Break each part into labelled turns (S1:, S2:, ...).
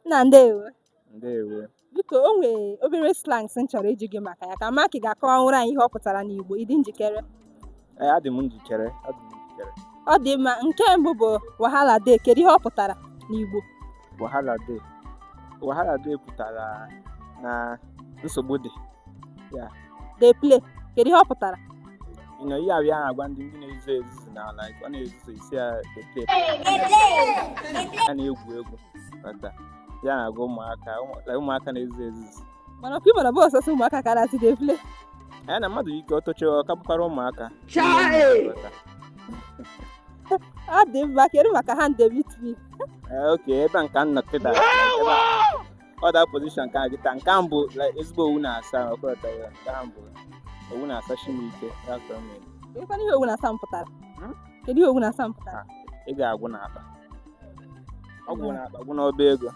S1: Nna ndewo.
S2: Ndewo. Biko o
S1: nwere obere slangs m chọrọ ịjụ gị maka ya ka m ma ka ị ga-akọwanwuru anyị ihe ọ pụtara n'Igbo ị dị njikere Ee, adị m
S2: njikere. Adị m njikere.
S1: ọ dị mma nke mbụ bụ wahala dey kedu ihe ọ pụtara n'Igbo Wahala
S2: dey. Wahala dey pụtara na nsogbu dị. Yeah. dey
S1: play kedu ihe ọ pụtara You know,
S2: ihe a bịa agwa ndị ndị na-ezuzu ezuzu na like ọ na-ezuzu ị sị ya dey play ya na-egwu egwu but ihe a na-agwa ụmụaka ụmụ- like ụmụaka na-ezuzu ezuzu mana ọkwa ị mara ọ
S1: bụrọ sọsọ ụmụaka ka a na-asị dey play ya na
S2: mmadụ ike ọtụchi ọ ka bụkwara ụmụaka But.
S1: ọ dị mma kedu maka hand dey meet me Eh, okay ebe a
S2: nke a m nọ kịta or the position nke a kịta nke a mbụ like, ezigbo owu na-asa ọkọlọta ya nke a mbụ owu na-asa Chineke that's what I mean. Kedụkwanụ
S1: ihe owu na-asa m pụtara Hmm? kedu ihe owu na-asa m pụtara ego agwụ n'akpa
S2: ọ gwụ n'akpa gwụ n'ọba ego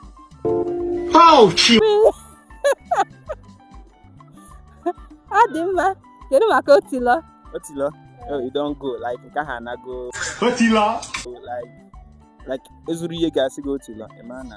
S1: ọ dị mma kedu maka otilọ
S2: otilọ oh, you don go like nke ahụ anago Otilọ. like
S3: like
S2: e zuru ihe a ga-asị gị otilọ ị ma na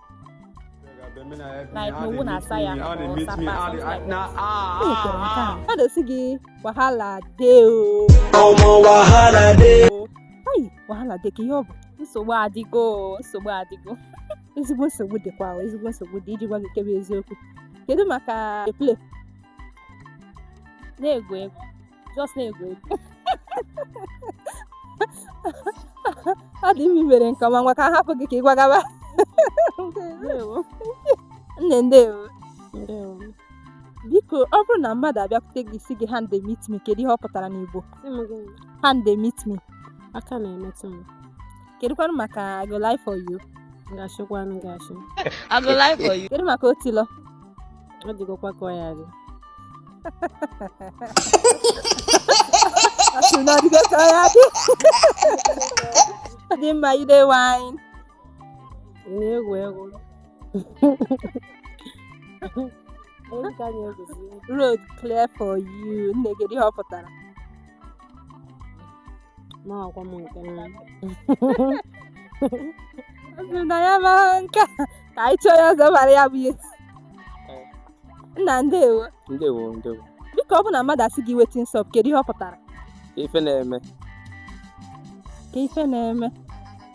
S4: like n'owu na-asa ya mmadụ sị gị
S1: wahala dey ọmọ wahala dey ai wahala dey kee ihe ọ bụ nsogbu
S4: adịgo nsogbu adịgo
S1: ezigbo nsogbu dịkwa ezigbo nsogbu dị iji gwa gị nke bụ eziokwu kedu maka play
S4: na-egwu egwu just na-egwu
S1: egwu ọ dị mma i mere nke ọma ngwa ka a hapụ gị ka ị gwagaba ndewo nne ndewo ndewo
S4: biko
S1: ọ bụrụ na mmadụ abịakwute gị sị gị hand dey meet me kedu ihe ọ pụtara n'igbo sị m gịnị hand dey meet me aka
S4: na-emetụ m kedụkwanụ maka
S1: I go lie for you m
S4: ga-ashịkwanụ gị
S1: ashị kedu maka otilọ
S4: ọ dịgokwa ka ọ ya-adị
S1: Ọ sị na ọ dịgo ka ọ ya-adị Ọ dị mma you dey
S4: whine ị na-egwu egwu Egwu ka anyị egwuzi. road clear for
S1: you nne kedu ihe ọ pụtara
S4: amarọkwa m
S1: nke m na ya amarọ nke a, ka anyị chọọ onye ọzọ mara ya bụ ihe nna ndewo ndewo ndewo
S2: biko ọ bụ
S1: na mmadụ asị gị wetin sup kedu ihe ọ pụtara ife na-eme kee ife na-eme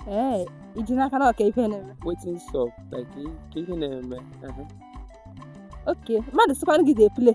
S1: ee i ji n'aka na ọ kee ife na-eme wetin
S2: sup like kee ihe na-eme aha. okay
S1: mmadụ sịkwanụ gị dey play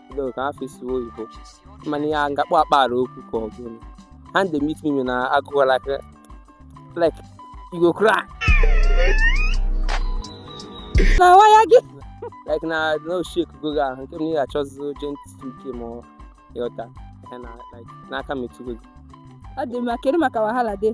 S2: Hello, ka afọ isiwo oyibo mana ya m ga-akpọ akpara okwu ka ọ bụrụ hand dey meet me na agụgọ like like you go cry
S1: na waya gị like
S2: na no shake go ga ahụ nke m na ị ga-achọzi gentle nke ọma ịghọta ya na like n'aka metụgo gị ọ dị mma
S1: kedu maka wahala dey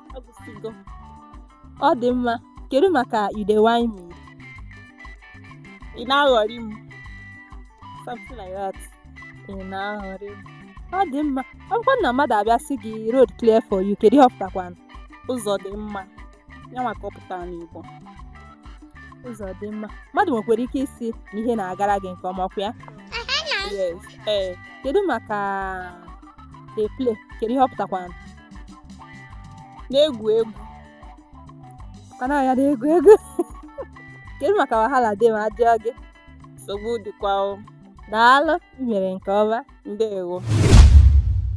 S1: ọ dị mma kedu maka you dey
S4: whine me ị na-aghọrị m something like that ị
S1: na-aghọrị m ọ dị mma ọ bụkwa na mmadụ abịa sị gị road clear for you kedu ihe ọ pụtakwanụ ụzọ dị
S4: mma ya maka ọ pụtara
S1: n'Igbo ụzọ dị mma mmadụ nwekwara ike ịsị na ihe na-agara gị nke ọma ọkwa ya yes
S4: ee kedu maka
S1: dey play kedu ihe ọ pụtakwanụ na-egwu egwu ka na ya na-egwu egwu kedu maka wahala dey ma a jụọ gị nsogbu
S2: dịkwa
S1: o daalụ i
S2: mere nke
S1: ọma
S2: ndewo